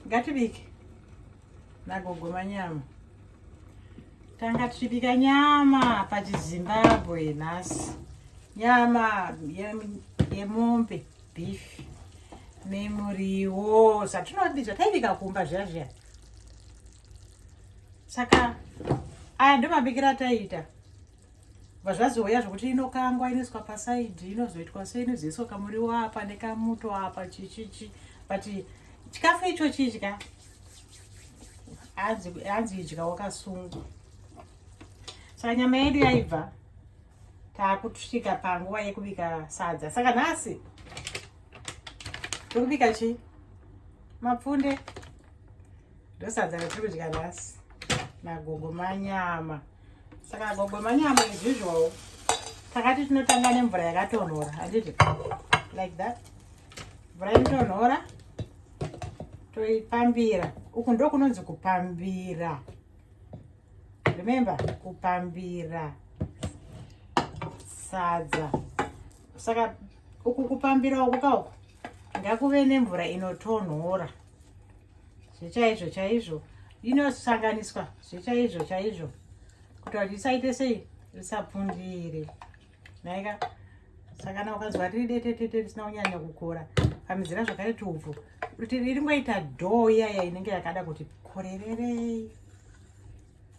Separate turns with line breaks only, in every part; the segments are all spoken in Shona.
ngatibike nagogo manyama tanga tichibika nyama pachizimbabwe nhasi nyama yemombe ye beef nemuriwo zvatinodi zvataibika kumba zviya zviya saka aya ndomabikira taiita vazvazouya zvokuti inokangwa inoiswa pasaidhi inozoitwa so inozoiswa kamuriwo apa nekamuto apa chichichi but chikafu icho chidya hanzi idya wakasungwa saka nyama yedu yaibva taakutusvika panguva yekubika sadza saka nhasi tokubika chii mapfunde ndosadza ratiri kudya nhasi magongo manyama saka gogo manyama as usual takati tinotanga nemvura yakatonhora handiti like that mvura inotonhora toipambira uku ndo kunonzi kupambira remember kupambira sadza saka uku kupambira uku kauku ngakuve nemvura inotonhora zvechaizvo chaizvo inosanganiswa zvechaizvo chaizvo kuti vanhu risaite sei risapundire naika saka kana ukanzwa riri detetete risina kunyanya kukora pamizira zvakare tubvu kuti riringoita dhoo iyaya inenge yakada kuti korererei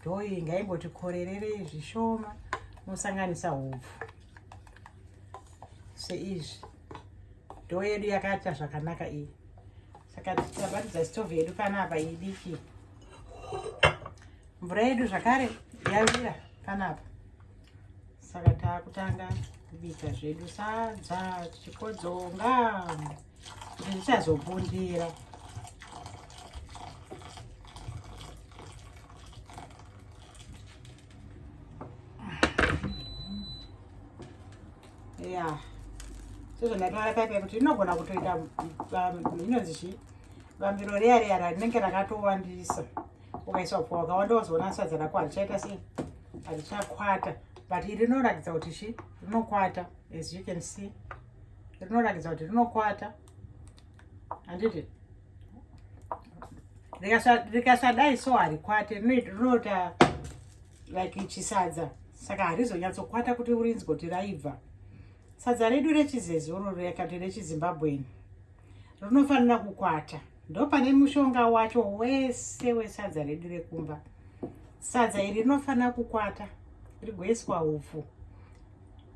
dhoo iyi ngaingoti korererei zvishoma mosanganisa hubvu seizvi ndoo yedu yakaita zvakanaka iyi saka tichabatidza stove yedu panapa idiki mvura yedu zvakare yavira panapa saka taakutanga kubika zvedu sadza tichikodzonga kuti zvichazobundira ya sezvandataura paipa kuti inogona kutoita um, inonzi chii vambiro reya reya rinenge rakatowandisa ukaisa upfa wakawanda wazoona sadza rako harichaita sei harichakwata but iri rinoratidza kuti chi rinokwata as you can see rinoratidza kuti rinokwata handiti rikasadai so harikwate rinoita like chisadza saka harizonyatsokwata kuti urinzi kuti raibva sadza redu rechizezuru rekati rechizimbabweni rinofanira kukwata ndopane mushonga wacho wese wesadza redu rekumba sadza iri rinofanira kukwata rigoiswa upfu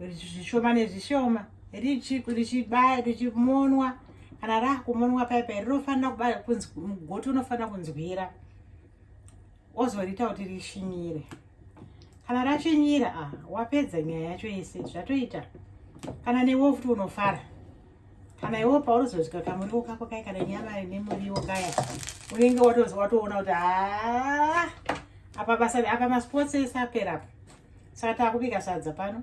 zvishoma nezvishoma richimonwa kana rakumonwa paya paya rinofanira kuba kunzi mugoti unofanira kunzwira ozoriita kuti rishinyire kana rashinyira a ah, wapedza nyaya yacho yese zvatoita kana newe futi unofara kana iwo paunozozvika kamuriwo kako kai kana nyama nemuriwo kaya unenge watoona kuti haa ah, apa basa apa masports ese apera apa saka takubika sadza pano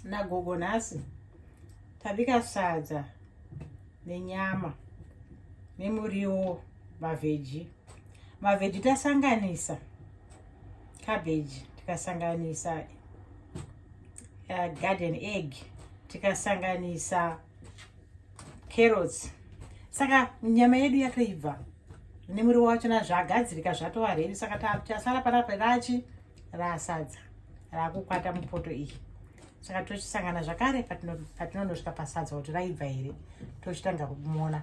nagogo nhasi tabika sadza nenyama nemuriwo mavheji mavheji tasanganisa cabbage tikasanganisa uh, garden egg tikasanganisa carrots saka nyama yedu yakaibva nemuriwo wacho na zvagadzirika zvatova redu saka tasara panapa rachi rasadza rakukwata mupoto iyi saka tochisangana zvakare patinonosvika pasadza kuti raibva here tochitanga kumona